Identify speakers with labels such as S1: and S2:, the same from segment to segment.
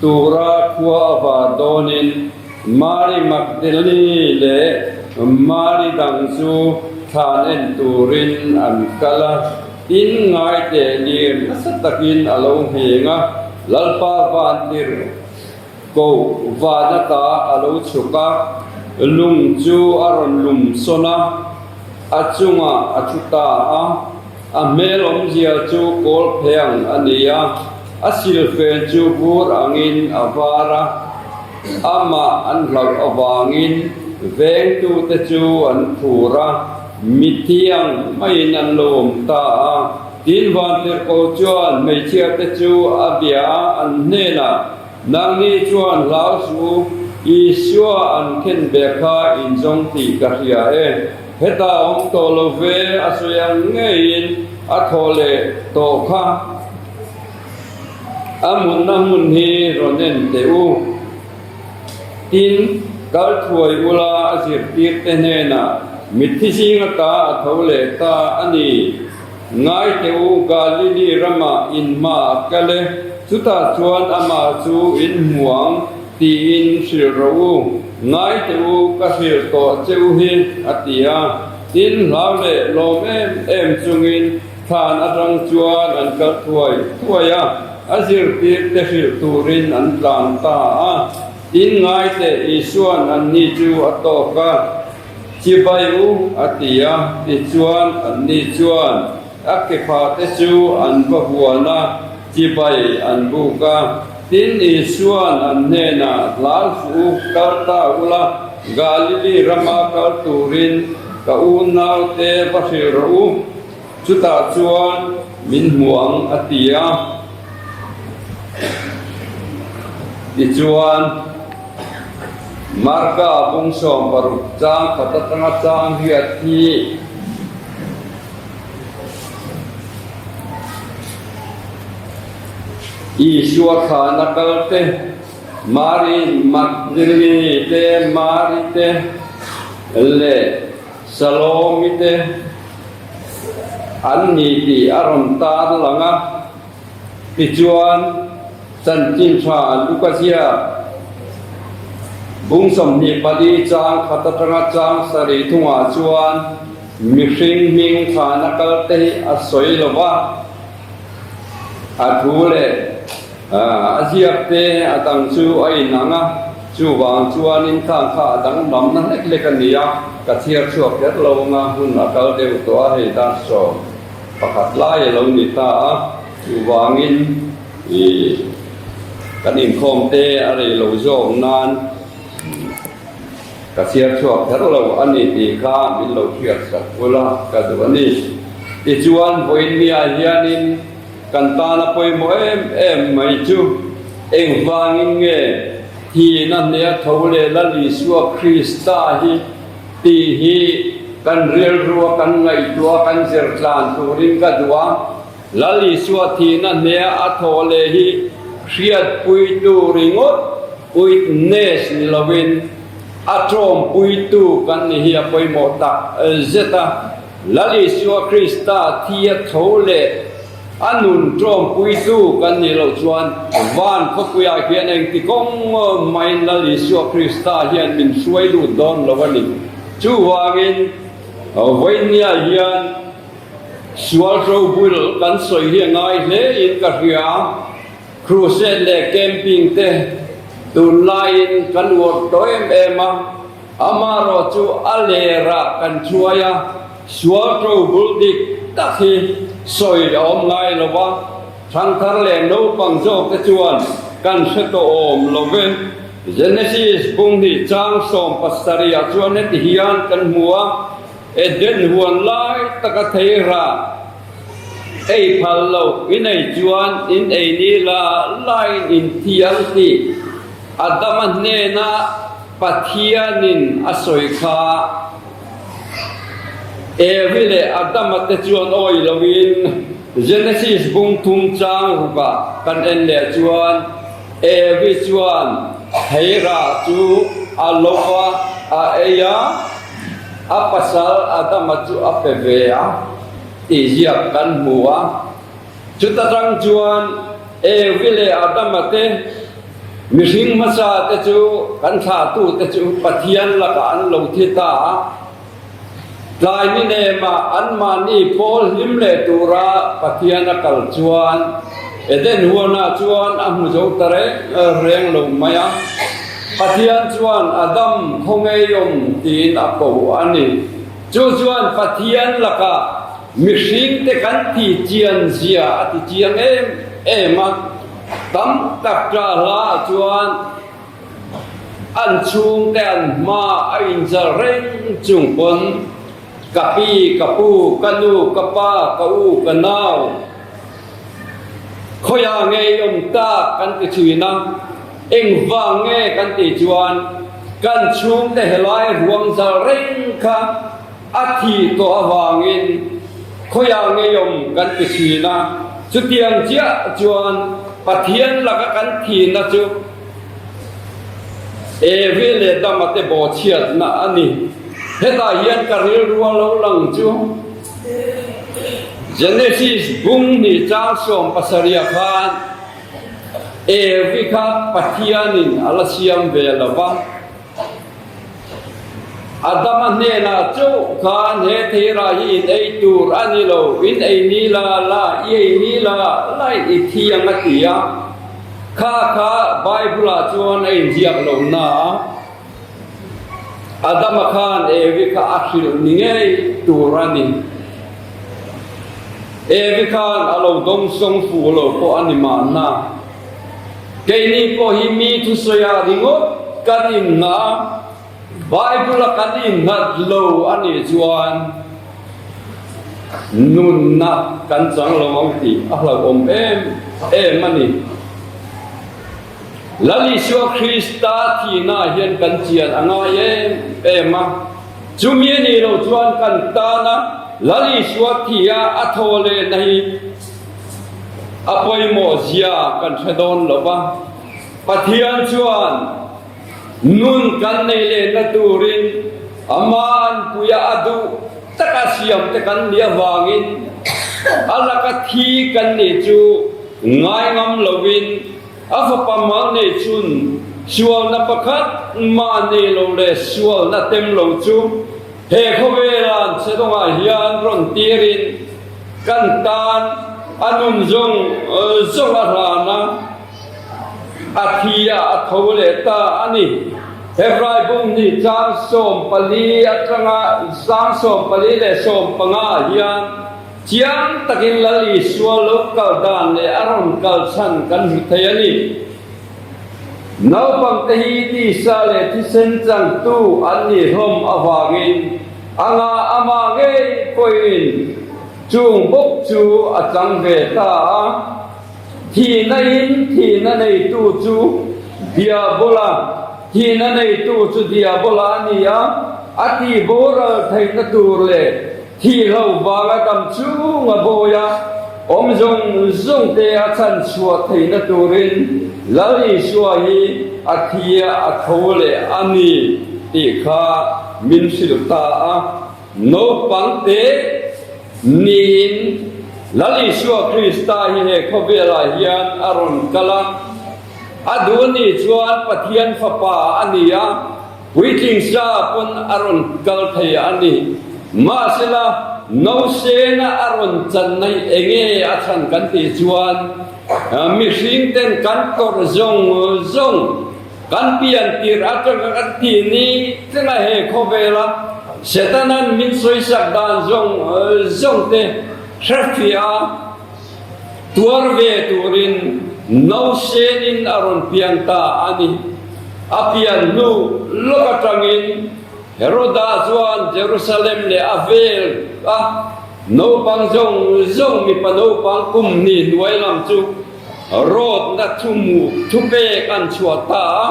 S1: Tura khua a var dawnin Mari Magdalene leh Mari dang chu thlan en turin an kal a, tin ngaite lir nasa takin a lo ngheng a, Lalpa vantir koh van atah a lo chhuk a, lung chu a rawn lum sawn a, a chungah a thu ta a. A hmel awmzia chu kawl phei ang a ni a, a silfen chu bur angin a var a, amah an hlauh avangin vengtute chu an phur a, mithiang hmaiin an lo awm ta a. Tin Vantirhko chuan hmeichhiate chu a bia an hnenah Nangni chuan hlau chu Isua an khen bia kha in zawng tih ka hria e. Heta awm tawh lo ve a sawi ang ngeiin a thaw leh tawh kha a mutna hmun hi rawn en teh u tin kal thuai ula a zirtirte hnenah mitthi zinga ta a tho leh ta a ni. Ngaihte u, Galili rama in mah a kal e, chutah chuan amah chu in hmu ang tiin hrilh rawh u, ngaihte u, ka hrilh tawh che u hi, a ti a. Tin, hlau leh lawm em em chungin thlan atang chuan an kal thuai thuai a, a zirtirte hrilh turin an tlan ta a. Tin, ngaihte Isua'n anni chu a tawk a. Chi bai u, a ti a. Tichuan, anni chuan a kephate chu an va huan a, chi bai an buk a. Tin, Isua'n an hnenah, Hlal fuh u, kal ta ula, Galili rama kal turin ka unau te va hrilh rawh u. Chutah chuan min hmu ang a ti a, tichuan Marka Bungsawm paruk chang khat atanga Changriat hi Isua thana kalte, Mari Magdalene te, Mari te leh. Salomite an ni tih a rawn tar lang a, tichuan chanchin tha Lukazia bung sawmhnih pali chang khat atanga chang sarih thungah chuan mihring hming thana kalte hi a sawi lo va, a thu leh. A ziak te a dang chu a inang a, chuvang chuan inthlâng kha a dang mamna hlek hlek a ni a, ka chhiar chhuak ber lo ang a, hun a kal deuh tawh a, hei dar sawm pakhat lai a lo ni ta a, chuvangin i kan inkhawm te a rei lo zawk nan ka chhiar chhuak ber lo a ni tih kha min lo hriat sak bul a, ka duh a ni. Tichuan vawiin miah hianin. Kan tan a pawimawh em em mai chu engvangin nge hi'n a hne a tho le lal Isua Krista hi? tih hi kan rilrua kan ngaihtuah a kan zir tlan turin ka duh a. Lal Isua thi'n a hne a tho le hi hriatpuitu ringawt witness ni loin a ṭawmpuitu kan ni hi a pawimawh tak zet a. Lal Isua Krista thi a tho leh a nun ṭawmpuitu kan nih loh chuan van khawpuiah hian engti kawng aw main Lal Isua Krista hian min hruai lut dawn lo a ni. Chuvangin Vawinia hian sual ṭo bul kan sawi hi a ngai hle in ka hria. Crusade leh camping te tunlaiin kan uar tawh em em a. Amaherawh chu a lerah kan hruai a, sual to bul dik tak hi sawi a awm ngai lo va, thangthar leh naupang zawk te chuan kan hre tawh awm lo ve. Genesis bung hi chang sawm pasarih ah chuan heti hian kan hmu a, Eden huan lai taka thei rah, ei phal lo i nei chuan in ei ni la, laiin in thial tih Adama hnena, Pathianin a sawi kha Evi leh Adama te chuan awi loin Genesis bung thum chang rukah kan en leh chuan Evi chuan thei rah chu a lo a, a ei a, a pasal Adama chu a pe ve a tih ziak kan hmu a. Chuta tang chuan Evi leh Adama te, mihring hmasa te chu kan thlahtu te chu Pathian lakah an lo thi ta a. Tlai ni nema anmahni pawl hlim leh tura Pathian a kal chuan Eden huanah chuan a hmu zo ta reng lo mai a. Pathian chuan Adam khawngeihawm tiin a ko a ni. Chu chuan Pathian lakah mihringte kan ti chianzia a ti chiang em em a. Tam tak ṭa hlaah chuan an chhungte an hma a inzal reng chung pawn ka pi, ka pu, ka nu, ka pa, ka u, ka nau, khawiah ngeiawm tak kan ti thin a. Engvang nge kan tih chuan kan chhungte helai ruangzal reng kha a thih tawh avangin khawiah ngeiawm kan ti thin a, chutiang chiah chuan Pathian laka kan thihna chu Evi leh Dama te bawhchhiatna a ni. Hetah hian ka rilrua lo lang chu Genesis bung hnih chang sawm pasarih ah khan, Evi kha Pathianin a la siam ve lo va. Adama hnenah chauh khan he theira hi in ei tur a ni lo, in ei ni la la, i ei ni la la in i thi ang a ti a. Kha kha Bible ah chuan a inziak lo hna. Adama khan Evi kha a hrilh ni ngei tur a ni. Evi khan a lo dawng sawng fu lo pawh a ni mahna, keini pawh hi mi thusawiha ringawt kan inngah a, Bible a kan innghat lo a nih chuan nunna kan chang lo ang tih a hlauhawm em em a ni. Lal Isua Krista thihna hian kan chian a ngai em em a. Chumi a nih loh chuan kan tana Lal Isua thia a tho lehna hi a pawimawh zia kan hre dawn lo va. Pathian chuan nun kan neih lehna turin Ama'n puiah a duh. Taka siam te kan nih avangin a laka thi kan nih chu ngai ngam loin a fapa Malnei chun sualna pakhat mah nei lo leh sualna tem lo chu he khawvelan Chhedawngah hian rawn tirin kan tan a nun zawng zawng a hlan a. A thia a tho leh ta a ni. Hebrai bum ni chang sawm pali atanga chang sawm pali leh sawm panga ah hian chiang takin lal isual lo kal dan leh a rawn kal chhan kan hmu thei a ni. Naupangte hi tisa leh thisen changtu an nih hlawm avangin anga ama ngei pawhin chung bawk chu a chang ve ta a. Thihna in thihna neitu chu Diabola, thihna neitu chu Diabola a ni a, a tihboral theihna tur leh thih loh vanga dam chung a bawi a, awm zawng zawng te a chanchhuah theihna turin Lal Isua hi a thia a tho leh a ni tih kha min hrilh ta a. Naupangte niin Lal Isua Krista hi he khawvelah hian a rawn kal a, a duhni chuan Pathian Fapa a ni a, Puitling sa pawn a rawn kal thei a ni. Mahsela, Nausena a rawn chan mai enge a chhan kan tih chuan, mihringten kan tawrh zawng zawng. Kan pian tir atanga kan ti ni thlengah he khawvela Setana'n min sawisak dan zawng zawngte hrehrfiah a, tuar ve turin no senin a rawn pian ta a ni. A pian hnu lawk atangin Heroda chuan Jerusalem leh a vel a naupang zawng zawng mipa naupang kum ni hnuai lam chu, Roadna thumuh thupek an chhuah ta a.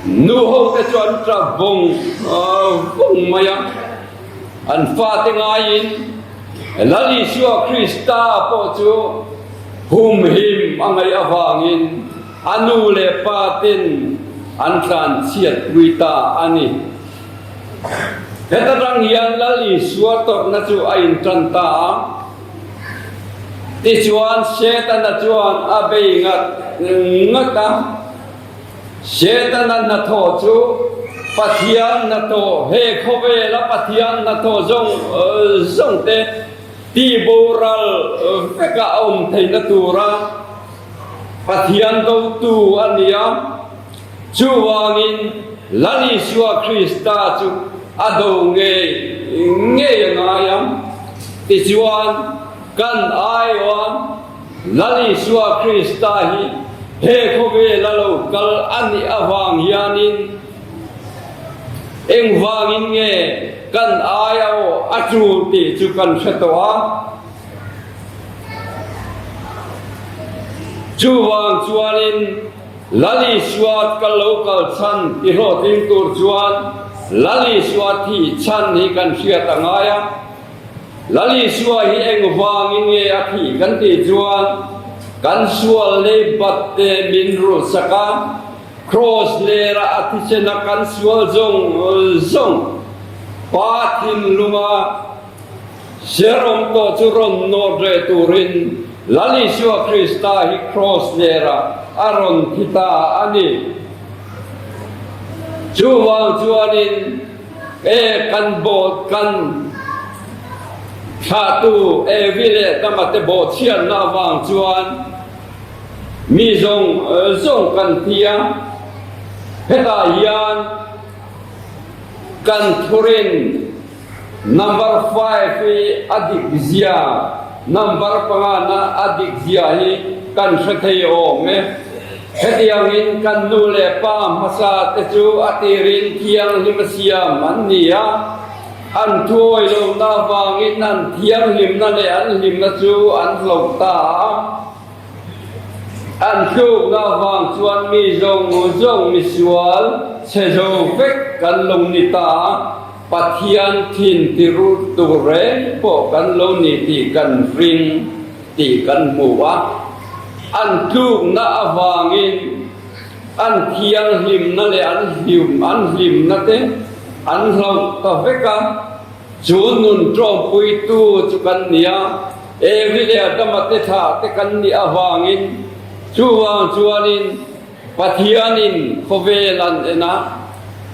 S1: Nu hote chu an tla vawng vawng mai a. An fate ngaiin Lal Isua Krista pawh chu humhim a ngaih avangin a nu leh pate'n an tlanchhiatpui ta a ni. Heta tang hian Lal Isua tawrhna chu a intan ta a, tichuan Setana chuan a bei ngat ngat a. Setana hnathawh chu Pathian hnathawh, he khawvela Pathian hnathawh zawng zawng te ti boral vekah a awm theihna tura Pathian dotu a ni a. Chuvangin, La Isua Krista chu a do ngei ngei a ngai ang. Tichuan, kan aiawm, La Isua Krista hi he khawvel a lo kal a nih avang hianin, engvangin nge kan ai a aw a tul tih chu kan hre tawh a. Chuvang chuanin. Lali suat ka lo kal chhan ti hlawhtling tur chuan Lali suat hi chhan ni kan hriat a ngai a. Lali suai hi engvangin nge a thih kan tih chuan kan sual lei batte min rul sak a, Kraws lerah a thichena kan sual zawng zawng Pa thinlunga, Jerome pawh chu rawn nawr reh turin Lalisua Krista hi Kraws nerah a rawn thi ta a ni. Chuvang chuanin e kan bawt kan thlahtu e vi leh dama te bawh chhiatna avang chuan mi zawng zawng kan thi a, hetah hian kan thurin, Number five hi a dik zia, number panga na a dik zia hi kan hre thei awm e. Hetiang in kan nu leh pa hmasa te chu a tir in thianghlim a siam an ni a, an thu awi lo na vang in an thianghlim na leh an hlim na chu an hlawh ta a. An tluk na vang chuan mi zawng zawng misual che zo vek kan lawng ni ta a. Pathian thin tirut tur reng pawh kan lo ni tih kan hring tih kan hmu a, an tlukna avangin an thianghlimna leh an an hlimna te an hlauh ta vek a, chu nun ṭawmpuitu chu kan nia, Evi leh Adama te thlah te kan nih avangin chuvang chuanin, Pathianin khawvel an en a,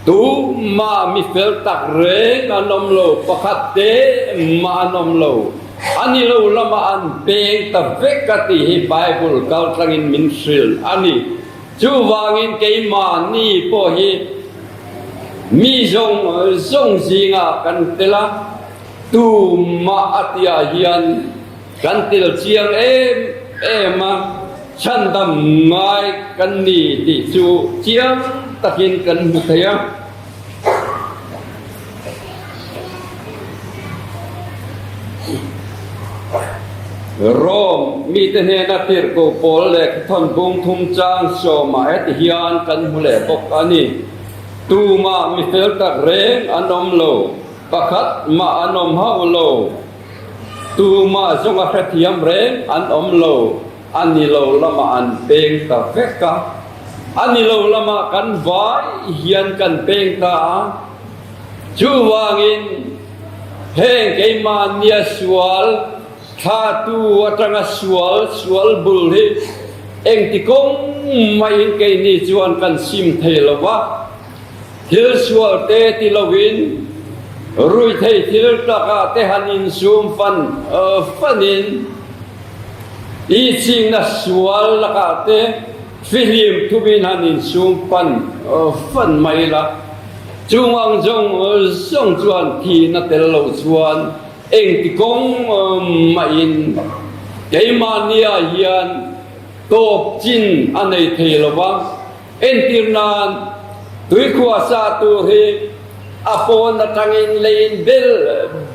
S1: tumah mi fel tak reng an awm lo, pakhat te mah an awm lo. A ni lo lama an peng ta vek a tih hi Bible kaltlangin min hrilh a ni. Chuvangin keimahni pawh hi mi zawng zawng zingah kan tel a, tumah a ti ah hian, Kan tel chiang em em a, chhandam ngai kan ni tih chu chiang takin kan hmu thei a. Rome mite hnena tirhko pawl leh thuthawn bung thum chang sawm ah heti hian kan hmu leh bawk a ni, Tumah mi fel tak reng an awm lo, pakhat mah an awm hauh lo. Tumah zunga hrethiam reng an awm lo, a ni lo lama an peng ta vek a, a ni lo lama kan vai hian kan peng ta a. Chuvangin heng keimah nia sual thlatu atanga sual sual bul hi engti kawng mahin keini chuan kan sim thei lo va. Thil sual te ti loin ruithei thil taka te han insum fan fanin i chingna sual lakah te fihlim thumin han insum fan fan mai la. Chung ang zawng zawng chuan thi na tel lo chuan engti kawng mahin keimahnia hian tawp chin a nei thei lo va. Entir nan, tuikhuah sa tur hi a pawn atangin leiin bel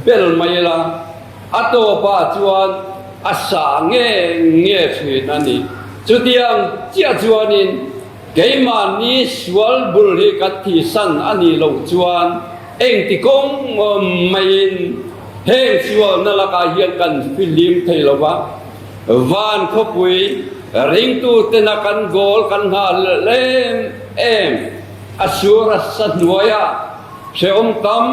S1: bel mai ila, a tawpa chuan a sa nge nge thin a ni. Chutiang chiah chuanin keimahni sual bul hi kan thihsan a nih loh chuan engti kawng maiin heng sualna lakah hian kan filim thei lo va. Van khawpui ringtu tena kan goal kan nghal em em. A sur a sa hnuaiah hrehawm tam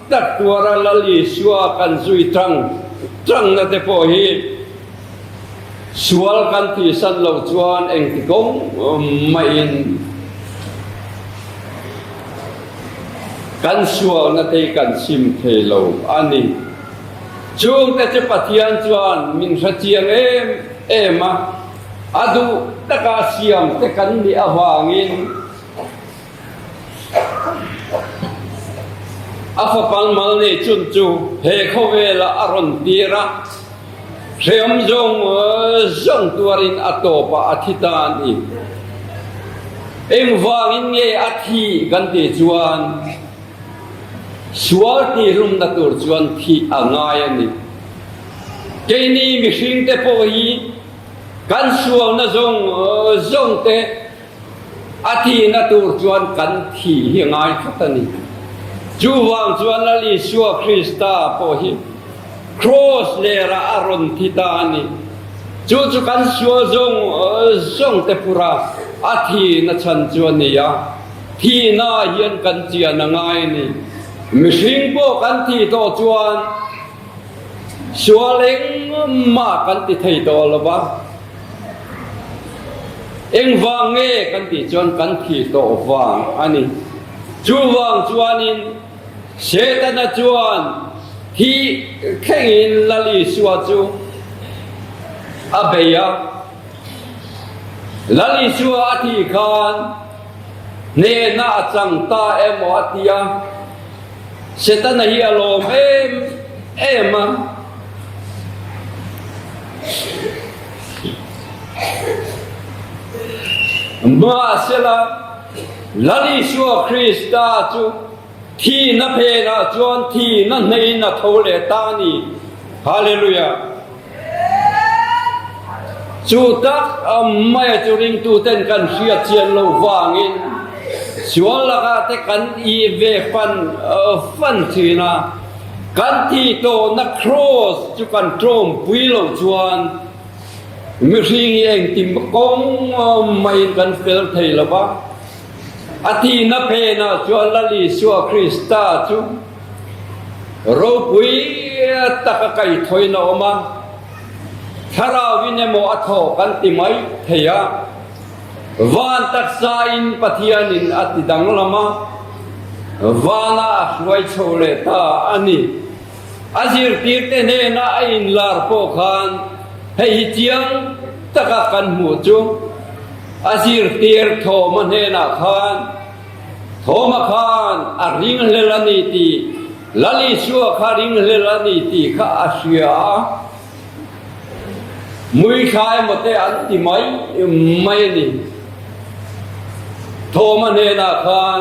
S1: tak tuar a lal i sua kan zui chang changna te pawh hi sual kan tihsan lo chuan engti kawng mahin kan sualna te hi kan chim thei lo a ni. Chungte chu Pathian chuan min hrechiang em em a, a duh taka siamte kan nih avangin a fa palmal nei chun chu he khawvelah a rawn tir a, hreawm zawng zawng tuarin a tawpah a thi ta a ni. Engvangin nge a thi kan tih chuan. Sual tihhlumna tur chuan thih a ngai a ni. Keini mihringte pawh hi kan sualna zawng zawng te a tihna tur chuan kan thih hi a ngai tlat a ni. Chuvang chuan Lal Isua Krista pawh hi Kraws lerah a rawn thi ta a ni. Chu chu kan sual zawng zawng te phurah a thihna chhan chu a ni a. Thi na hian kan chiah na ngai a ni. Mihring pawh kan thi tawh chuan sual engmah kan ti thei tawh lo va. Engvang nge kan tih chuan kan thi tawh vang a ni. Chuvang chuanin Setana chuan thi thlengin Lal Isua chu a bei a. Lal Isua a thi khan. Hnehna a chang ta emaw a ti a, Setana hi a lawm em em a. Mahse la, Lal Isua Krista chu. Thihna phenah chuan thihna hnehin a tho leh ta a ni. Hallelujah! Chu tak a awm mai a chu ringtute'n kan hriatchian lo vangin sual lakah te kan i ve fan fan thin a, kan thih tawhna Kraws chu kan tlawmpui lo chuan mihring hi engtim kawng maiin kan fel thei lo va. A tihna phenah chuan Lal Isua Krista chu ropui taka kaithawiin a awm a, thlarauvin emaw a thaw kan ti mai thei a. Van taksain Pathianin a ti danglam a, vana a hruai chho leh ta a ni. A zirtirte hnena a inlar pawh khan hei hi chiang takah kan hmuh chu, a zirtir Thawma hnenah khan Thawma khan a ringhlel a ni tih, Lalisua kha ringhlel a ni tih kha a hria a. Muithla emaw-te an ti mai mai a ni. Thawma hnenah khan.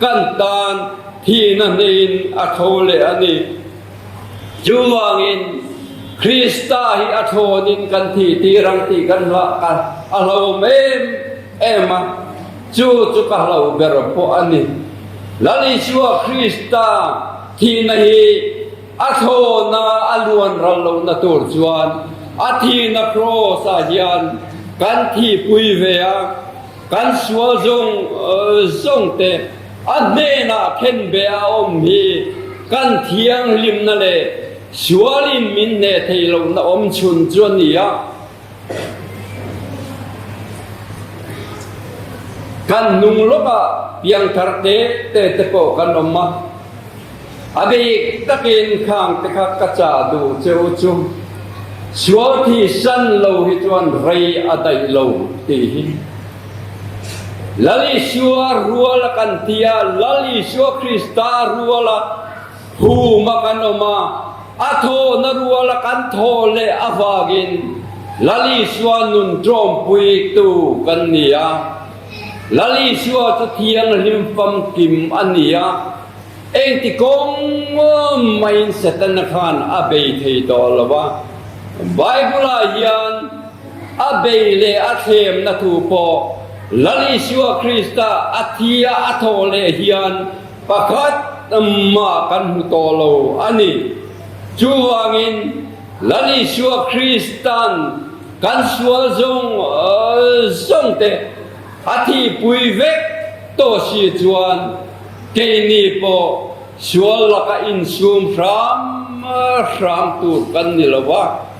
S1: Kan tan thihna hnihin a tho leh a ni. Chuvangin Krista hi a thlawnin kan thih tirang tih kan hlah kha a hlawm em em a, chu chu ka hlauh ber pawh a ni. Lali chuah Krista thihna hi a thlawna a luanral lohna tur chuan a thihna Kraws ah hian kan thihpui ve a. Kan sual zawng zawng te a hnenah khen beh a awm hi kan thianghlimna leh sual in min hne thei lohna awm chhun chu a ni a. Kan hnung lawkah piangthar tete te pawh kan awm a. A bik takin khang te kha ka chah duh cheu chu sual thi san lo hi chuan rei a daih lo tih hi Lal Isua rual a kan ti a, Lal Isua Krista rual a hum a kan awm a, a thawhna rual a kan thawh leh avak in Lal Isua nun ṭawmpui tu kan ni a, Lal Isua chu thianghlim famkim a ni a. Engti kawng nuam maiin Setana khan a bei thei tawh lo a. Bible-ah hian a bei leh a thlemna thu pawh Lal Isua Krista a thi a a tho leh hian pakhat mah kan hmu tawh lo a ni. Chuvangin Lal Isua Kristan kan sual zawng zawngte, A thihpui vek tawh si chuan keini pawh sual laka insum hram hram tur kan ni lo va,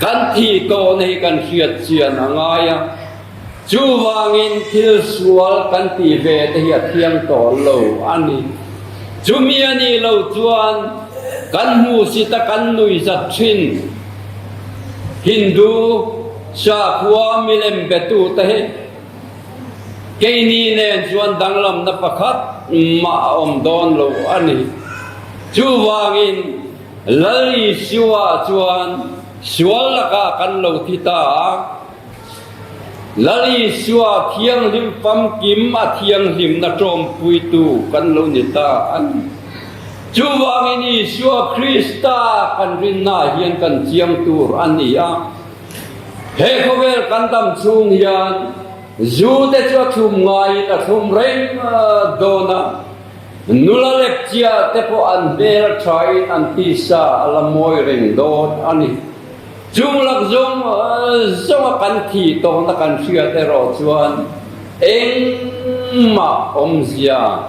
S1: kan thih tawh na hi kan hriatchian a ngai a. Chuvangin thil sual kan ti ve te hi a thiang tawl lo a ni. Chumi a nih lo chuan kan hmuhsita kan nuih zat thin Hindu, Chakua milem petu te hi keini nen chuan danglamna pakhat mah a awm dawn lo a ni. Chuvangin Lali Siua chuan sual laka kan lo thi ta a. Lali Siua thianghlim famkim a thianghlimna ṭawmpuitu kan lo ni ta a ni. Chuvangin Isua Krista kan rinna hian kan chiang tur a ni a. He khawvel kan dam chhung hian Zute chu a thlum ngaiin a thlum rengva dawn a, nula lek chia te pawh an hmel thain an tisa a la mawi reng dawn a ni. Chung lak zawng zawnga kan thih tawhna kan hriat erawh chuan engmah awmzia.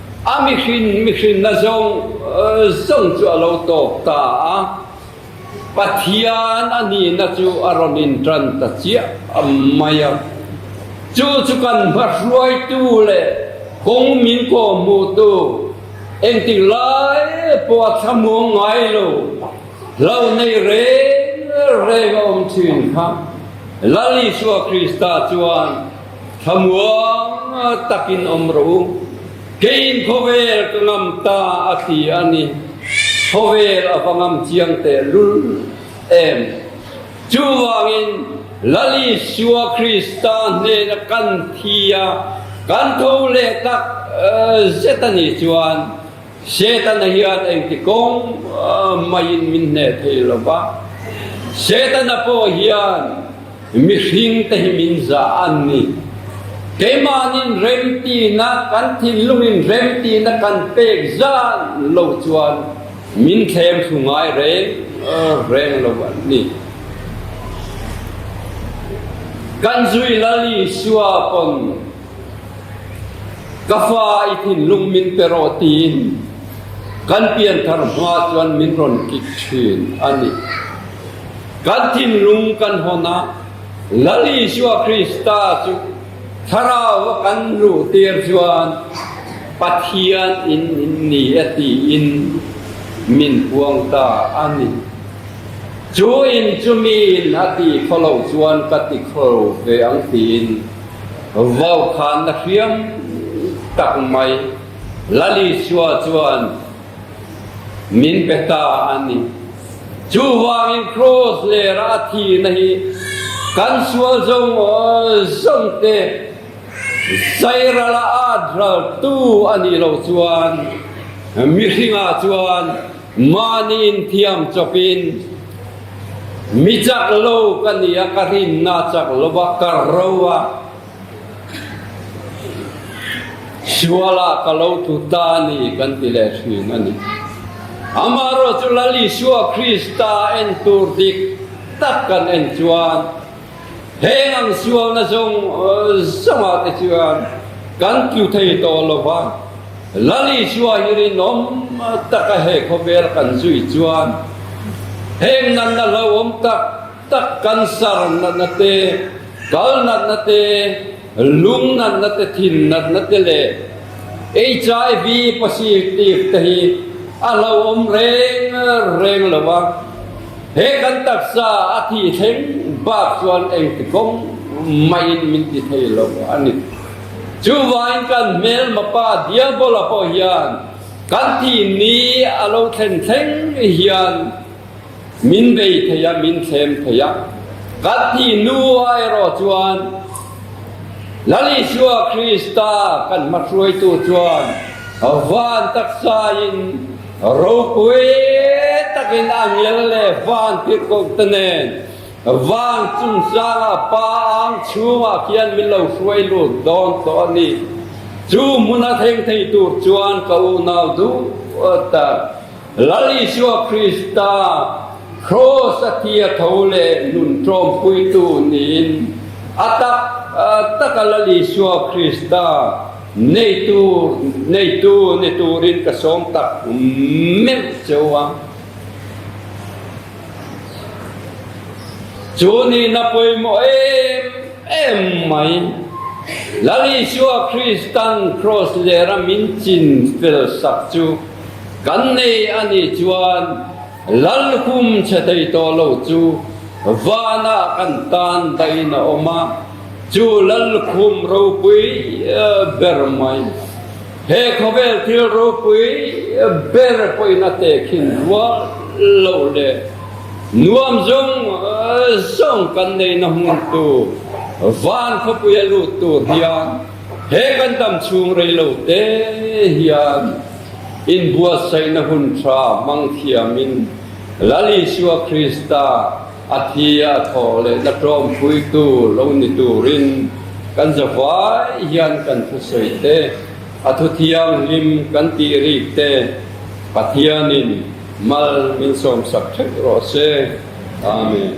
S1: A mihrin mihrinna zawng zawng chu a lo tawp ta a, Pathian a nihna chu a rawn inṭan ta chiah mai a. Chu chu kan hmahruaitu leh kawng min kawhhmuhtu engtik lai pawh a thlamuang ngai lo hlo nei reng reng a awm ṭhin kha Lalisua Krista chuan, Thlamuang takin awm rawh u. Keiin khawvel ka ngam ta a ti a ni. Khawvel a va ngam chiang teh lul em. Chuvangin Lali sua Krista hnena kan thi a, kan tho leh tak zet a nih chuan, Setana hian engti kawng maiin min hne thei lo va, Setana pawh hian mihring te hi min za a ni. Keimahnin remtina kan thinlungin remtina kan pek zan lo chuan min thlengthlu ngai reng reng lo a ni. Kan zui lal Isua pawn. Ka fa i thinlung min pe rawh tiin kan pianthar hma chuan min rawn kik thin a ni. Kan thinlung kan hawn a, Lal Isua Krista chu thlarau a kan luhtir chuan Pathian in in ni a tiin min puang ta a ni. Chu in chumi in a ti kho lo chuan ka ti kho ve ang tiin, Vaukhanna hriam tak mai Lali Chua chuan min pe ta a ni. Chuvangin kraws lera a thihna hi kan sual zawng zawngte Sairala a draltu a nih loh chuan mihringah chuan Mahniin thiam chawp in, Mi chak lo ka ni a, ka rinna chak lo a, ka ro a, sual ah ka lo thu ta a ni kan ti leh thin a ni. Amah erawh chu Lal Isua Krista a en tur dik tak kan en chuan, He ngang sualna zawng zawng ah te chuan kan tlu thei tawh lo va, Lali chua hi rinawm tak a he khawvel kan zui chuan heng natna hlauhawm tak tak kan sar natna te, kal natna te, Lung natna te, thin natna te leh HIV positive te hi a hlauhawm reng reng lo a, he kan taksa a thih thleng bak chuan engti kawng mahin min ti thei lo a ni. Chu vain kan hmelmapa Diabola pawh hian kan thih ni a lo thlen thleng hian Min bei thei a, min thlem thei a. Kathy nu ai erawh chuan, Lal Isua Krista kan hmahruaitu chuan van taksaiin ropui takin a ngel leh van pirhkohte nen van chungchanga pa ang chhungah khian min lo hruai lut dawn tawh a ni. Chu hmuna thleng thei tur chuan ka unau duh tak. Lal Isua Krista Kraws a thi a tho leh nun tlawmpuitu niin a tak tak a Lal Isua Krista nei tur nei tu ni turin ka sawm tak melh che uang. Chu nih na pawimawh em em mai. Lal Isua Kristan Kraws lera min chin fel sak chu kan nei a nih chuan lal hum chhe thei tawh lo chu vanah kan tan dahin a awm a, chu lal hum ropui ber mai. He khawvel thil ropui ber pawhin a te khin rual lo leh nuam zung zawng kan neihna hmuntu van khawpui a lut tur hian he kan dam chhung rei lo te hian inbuatsaihna hun tha hmangthiamin Lalisua Krista A thi a thawh lehna tlawmphuitu lo ni turin kan zavuai hian kan thusawi te, a thu thianghlim kan tih rih te Pathianin mal min sawmsak theuh rawh se. Amen.